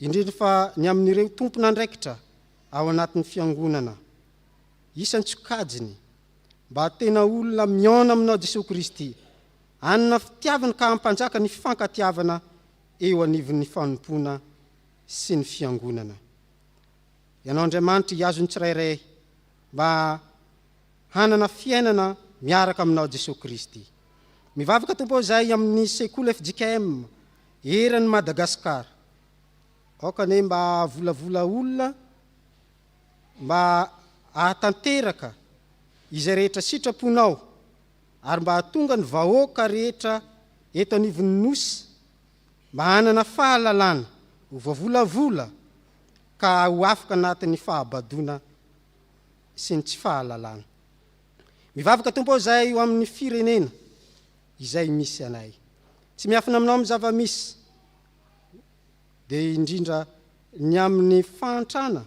indrindra fa ny amin'ireo tompon'andraikitra ao anatin'ny Fiangonana, isan-tsokajiny, mba hatena olona mihaona aminao Jesoa Kristy, hanana fitiavana ka hampanjaka ny fifankatiavana eo anivon'ny fanompoana sy ny Fiangonana. Ianao Andriamanitra hihazo ny tsirairay mba hanana fiainana miaraka aminao Jesoa Kristy. Mivavaka Tompo aho izay amin'ny sekoly fjkm Eran'i Madagascar. Aoka anie mba hahavolavola olona mba hahatanteraka izay rehetra sitraponao ary mba hahatonga ny vahoaka rehetra eto anivon'ny Nosy mba hanana fahalalana ho voavolavola ka ho afaka anatin'ny fahabadoana sy ny tsy fahalalana. Mivavaka Tompo aho izay ho amin'ny firenena. izay misy anay. Tsy miafina aminao amin'ny zava-misy, dia indrindra ny amin'ny fahantrana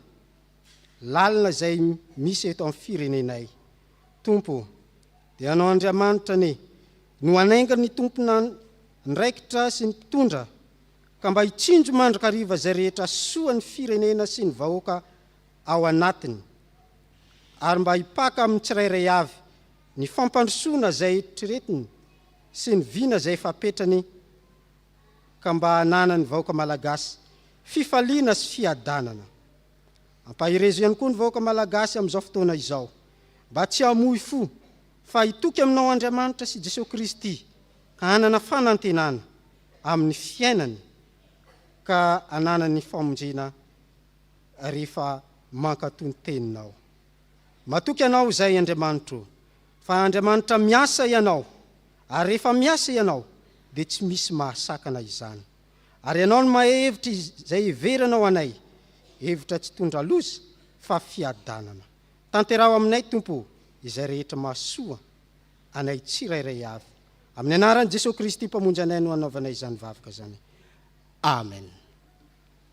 lalina izay misy eto amin'ny firenenay. Tompo ô, dia ianao Andriamanitra anie no hanaingan'ny tompon'andraikitra sy ny mpitondra, ka mba hitsinjo mandrakariva izay rehetra hahasoa ny firenena sy ny vahoaka ao anatiny, ary mba hipaka amin'ny tsirairay avy Ny fampandrosoana izay eritreretiny sy ny vina izay efa apetrany ka mba hananan'ny vahoaka malagasy fifaliana sy fiadanana. Ampaherezo ihany koa ny vahoaka malagasy amin'izao fotoana izao mba tsy hamoy fo fa hitoky aminao Andriamanitra sy Jesoa Kristy ka hanana fanantenana amin'ny fiainany ka hananany famonjena rehefa mankatò ny teninao. Matoky Anao izay Andriamanitra o! Fa Andriamanitra miasa Ianao, ary rehefa miasa Ianao dia tsy misy mahasakana izany. Ary Ianao no mahay hevitra izay heveranao anay, hevitra tsy tondra loza fa fiadanana. Tanteraho aminay Tompo o! izay rehetra mahasoa anay tsirairay avy. Amin'ny Anaran'i Jesoa Kristy Mpamonjy anay no anaovanay izany vavaka izany. Amen.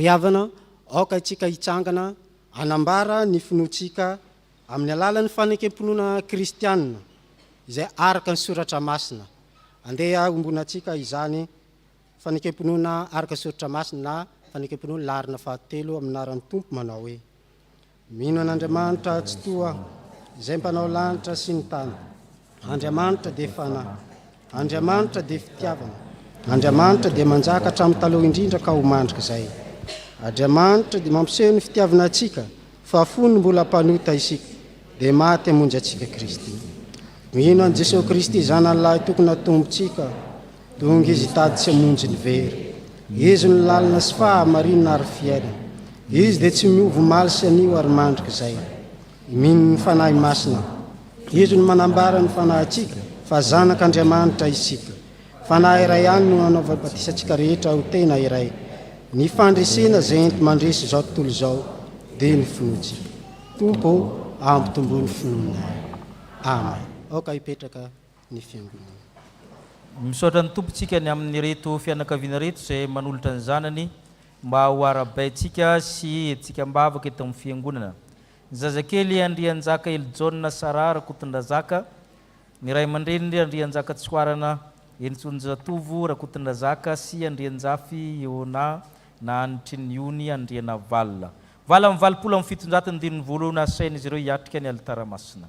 Ry havana, aoka isika hitsangana hanambara ny finoantsika amin'ny alalan'ny fanekem-pinoana kristiana izay araka ny soratra masina. Andeha hombonantsika izany fanekem-pinoana araka ny soratra masina na fanekem-pinoana laharana fahatelo amin'ny anaran'ny Tompo manao hoe. Mino an'Andriamanitra Atsitoha Izay mpanao lanitra sy ny tany. Andriamanitra dia Fanahy. Andriamanitra dia Fitiavana. Andriamanitra dia manjaka hatramin'ny taloha indrindra ka ho mandrik'izay. Adriamanitra dia mampiseho ny fitiavana antsika fa fony mbola mpanota isika dia maty hamonjy antsika Kristy. Mino an'i Jesoa Kristy Zanany Lahy Tokona Tompontsika. Tonga izy hitady tsy hamonjy ny very. Izy no lalana sy fahamarinana ary fiainana. Izy dia tsy miova omaly sy anio ary mandrik'izay. Mino ny Fanahy Masina. Izy no manambara ny fanahintsika fa zanak'Andriamanitra isika. Fanahy iray ihany no nanaovany batisa antsika rehetra ho tena iray. Ny fandresena izay enti-mandresy izao tontolo izao dia ny finoantsika. Tompo ô, ampitomboy ny finoanay. Amen. Aoka hipetraka. ny fiangonana. Misaotra ny Tompontsika ny amin'ireto fianakaviana ireto izay manolotra ny zanany mba ho arahabaintsika sy entintsika am-bavaka eto amin'ny fiangonana. Ny zazakely Andrianjaka Elijaona Sarah Rakotondrazaka, ny ray aman-dreniny Andrianjaka Tsihoarana Henintsoanjatovo Rakotondrazaka sy Andrianjafy Eona na anitry ny ony Andrianavalona, valo amby valopolo amby fitonjato ny dininy voalohany, asain'izy ireo hiatrika ny alitara masina.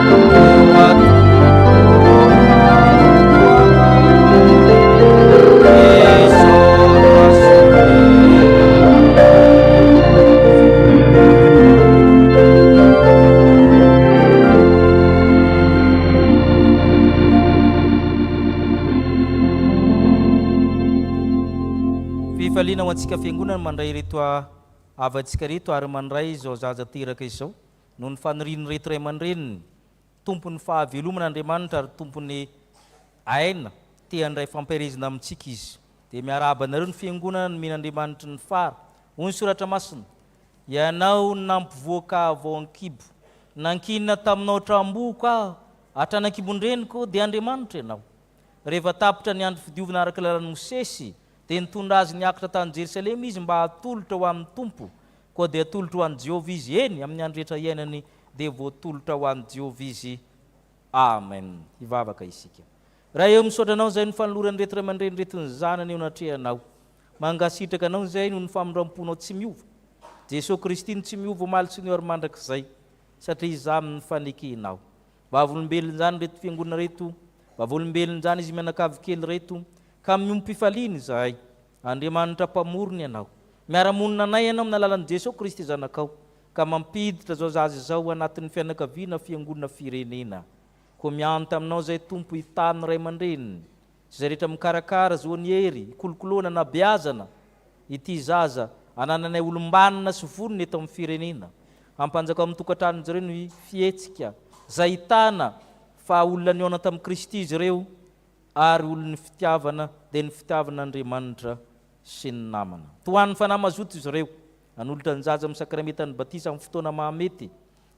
Fifaliana ho antsika fiangonana mandray ireto havantsika ireto ary mandray izao zaza teraka izao. Noho ny fanirian'ireto ray aman-dreniny, Tompon'ny fahavelomana Andriamanitra ary Tompon'ny aina, te handray fampielezana amintsika Izy. Dia miarahaba anareo ny Fiangonana nomen'Andriamanitry ny fara, hoy ny Soratra Masina, Ianao nampivoaka ahy vao an-kibo, nankinina taminao hatrany am-boko aho, hatrany an-kibon-dreniko, dia Andriamanitra Ianao. Rehefa tapitra ny andro fidiovina araka ny lalan'i Mosesy, dia nitondra azy niakatra tany Jerosalema izy mba hatolotra ho amin'ny Tompo Koa dia atolotro ho an'i Jehovah izy, eny, amin'ny andro rehetra iainany dia voatolotra ho an'i Jehovah izy. Amen. Hivavaka isika. Ray o, misaotra Anao izay no fanoloran'ireto ray aman-dreny ireto ny zanany eo anatrehanao. Mangasitraka Anao izay noho ny famindram-ponao tsy miova. Jesoa Kristy no tsy miova omaly sy ny ora mandrakizay, satria izaho amin'ny fanekenao. Vavolombelony izany ireto fiangonana ireto, vavolombelony izany izy mianakavy kely ireto, ka miombom-pifaliana izahay. Andriamanitra Mpamorona ianao. Miara-monina anay ianao amin'ny alalan'i Jesoa Kristy Zanakao, ka mampiditra izao zaza izao ho anatin'ny fianakaviana Fiangonana Firenena. Koa mianta aminao izay Tompo hitaha ny ray aman-dreniny, sy izay rehetra mikarakara azy ho an'i Hery, hikolokoloana, hanabeazana, ity zaza, anananay olom-banona sy vonona eto amin'ny Firenena. Hampanjakao amin'ny tokantranon'izy ireo ny fihetsika, izay ahitana fa olona nihaona tamin'i Kristy izy ireo, ary olon'ny fitiavana dia ny fitiavana Andriamanitra sy ny namana. Tohan'ny Fanahy Mazoto izy ireo, hanolotra ny zaza amin'ny sakramentan'ny batisa amin'ny fotoana mahamety,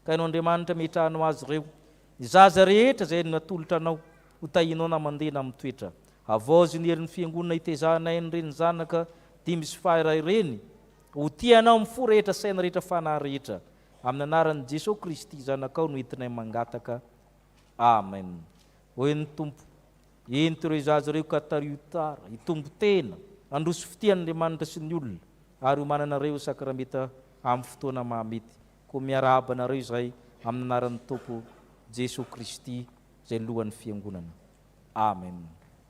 ka haino Andriamanitra mehitrahana ho azy ireo. Ny zaza rehetra izay haino ny atolotra anao, ho tahinao na mandeha na mitoetra. Havaoziny herin'ny Fiangonana hitezahana aina ireny zanaka dimy sy faha iray ireny, ho tia anao amin'ny fo rehetra, saina rehetra, fanahy rehetra. Amin'ny anaran'i Jesoa Kristy Zanakao no entinay mangataka. Amen. Hoy ny Tompo, Ento ireo zaza ireo ka tariho tsara, hitombo tena, handroso fitia an'Andriamanitra sy ny olona, ary homananareo sakramenta amin'ny fotoana mahamety. Koa miarahaba anareo izahay amin'ny anaran'ny Tompo Jesoa Kristy izay lohan'ny Fiangonana. Amen.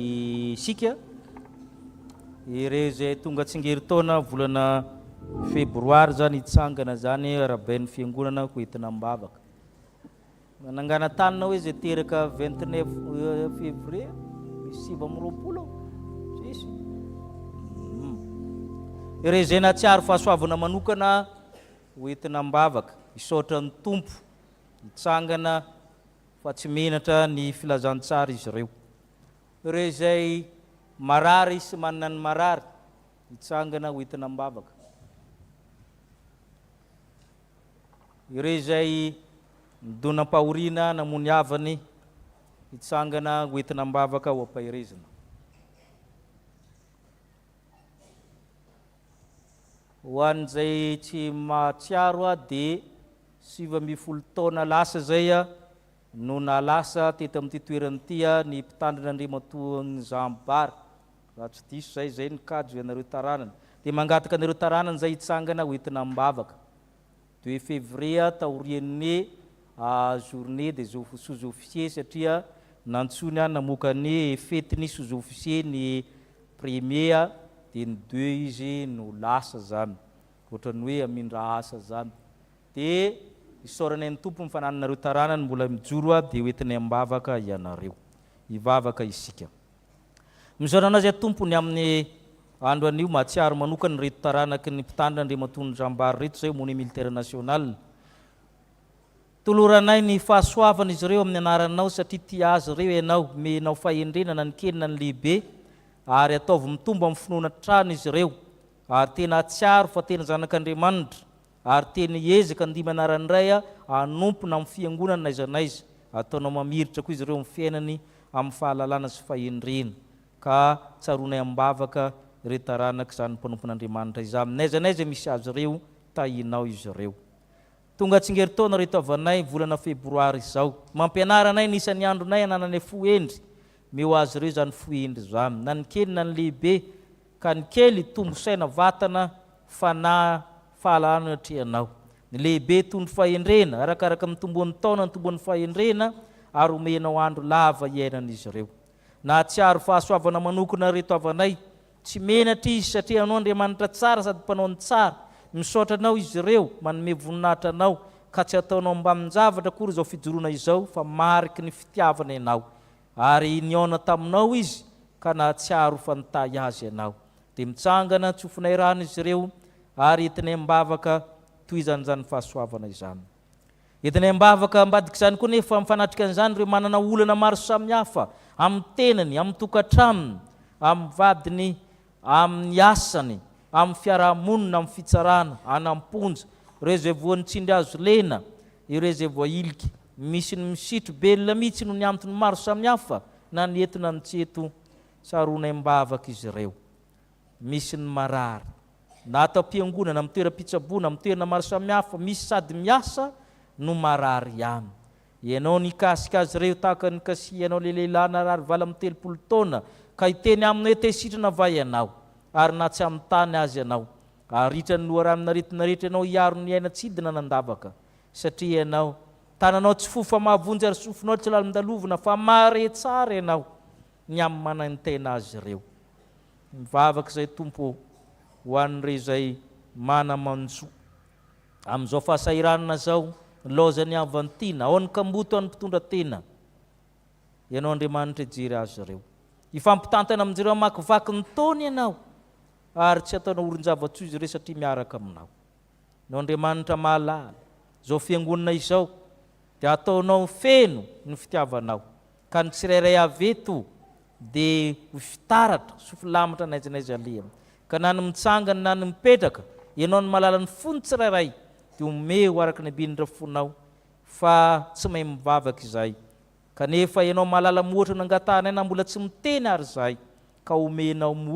isika, ireo izay tonga tsingerin-taona volana febroary izany hitsangana izany arabain'ny fiangonana ho entina am-bavaka. Nananganan-tanina hoe izay teraka 29 euh, février, sivy amby roapolo, tsisy. Hmm. Ireo izay nahatsiaro fahasoavana manokana ho entina am-bavaka, isaotra ny Tompo, hitsangana fa tsy menatra ny filazantsara izy ireo. Ireo izay marary sy manana ny marary hitsangana ho entina am-bavaka. Ireo izay nidonam-pahoriana namoa ny havany hitsangana ho entina am-bavaka ho am-paherezana. Ho an'izay tsy mahatsiaro aho dia sivy ambin'ny folo taona lasa izay no naha lasa teto amin'ity toerana ity aho ny mpitandrina Andriamatoa Nzambi Bar raha tsy diso izay, izay ny kajo ianareo taranany dia mangataka anareo taranany izay hitsangana hoentina am-bavaka. Deux février taorian'ny journée des sous-officiers satria nantsoiny aho namoaka ny fety ny sous-officiers ny premier dia ny deux izy no lasa zany ohatran'ny hoe hamindra asa zany dia isaorana ny Tompo ny fanananareo taranany mbola mijoro dia hoentinay am-bavaka ianareo. Hivavaka isika. Misaotra anao izay Tompo ny amin'ny andro anio mahatsiaro manokana ireto taranaky ny mpitandrina Andriamatoa Nirambary ireto izay homone militaire national. Toloranay ny fahasoavan'izy ireo amin'ny anaranao satria tia azy ireo ianao, omenao fahendrena na ny kely na ny lehibe ary ataovy mitombo amin'ny finoana hatrany izy ireo ary tena hatsiaro fa tena zanak'Andriamanitra. Ary tena hiezaka ny dimy anaran'ny Ray hanompo na amin'ny fiangonana n'aiza n'aiza ataonao mamiritra koa izy ireo amin'ny fiainany amin'ny fahalalana sy fahendrena ka tsaroanay am-bavaka ireo taranak'izany mpanompon'Andriamanitra izany n'aiza n'aiza misy azy ireo tahinao izy ireo tonga tsingerin-taona ireto havanay volana febroary izao mampianara anay ny isan'ny andronay hanananay fo hendry meo azy ireo izany fo hendry izany na ny kely na ny lehibe ka ny kely tombo saina vatana fanahy fahalalana no atrehanao, ny lehibe toy ny fahendrena arakaraka ny tomboan'ny taona ny tomboan'ny fahendrena ary omenao andro lava hiainan'izy ireo. Nahatsiaro fahasoavana manokana ireto havanay, tsy menatra izy satria anao Andriamanitra tsara sady mpanao ny tsara, misaotra anao izy ireo, manome voninahitra anao ka tsy ataonao ambanin-javatra akory izao fijoroana izao fa mariky ny fitiavana ianao. Ary nihaona taminao izy ka nahatsiaro fa nitahy azy ianao. Dia mitsangana tsy ho finairana izy ireo ary entiny am-bavaka tohizany izany fahasoavana izany. Entiny am-bavaka ambadik'izany koa anefa mifanatrika an'izany ireo manana olana maro samihafa amin'ny tenany, amin'ny tokantranony, amin'ny vadiny amin'ny asany, amin'ny fiarahamonina, amin'ny fitsarana, any am-ponja, ireo izay voan'ny tsindry hazo lena, ireo izay voahilika. Misy ny misitry belona mihitsy noho ny antony maro samihafa na ny eto na ny tsy eto, sarona am-bavaka izy ireo. Misy ny marary, na ato am-piangonana, amin'ny toeram-pitsaboana, amin'ny toerana maro samihafa, misy sady miasa no marary ihany. Ianao nikasika azy ireo tahaka ny kasihanao ilay lehilahy narary valo amby telopolo taona ka hiteny aminy hoe tesitrana va ianao ary na tsy amin'ny tany azy ianao, haharitra ny loharanon-aretina rehetra ianao hiaro ny aina tsy hidina an'andavaka satria ianao tananao tsy fohy fa mahavonjy ary sofinao tsy lalindalovina fa mahare tsara ianao ny amin'ny manaintaina azy ireo. Mivavaka izay Tompo ô ho an'ireo izay mana-manjo. Amin'izao fahasahiranana izao, nilaozan'i Avantina, Aon'ny kamboty an'ny mpitondra tena? Ianao Andriamanitra hijery azy ireo. Hifampitantana amin'izireo hamakivaky ny taona ianao, ary tsy hataonao orin-java-tsoa izy ireo satria miaraka aminao. Ianao Andriamanitra mahalala, izao fiangonana izao dia hataonao feno ny fitiavanao. Ka ny tsirairay avy eto dia ho fitaratra sy filamatra n'aiza n'aiza aleha. Ka na ny mitsangana na ny mipetraka, ianao no mahalala ny fon'ny tsirairay, dia omeo araka ny ambindra fonao, fa tsy mahay mivavaka izahay, kanefa ianao mahalala moatra nangatahanay na mbola tsy miteny ary izahay, ka omenao.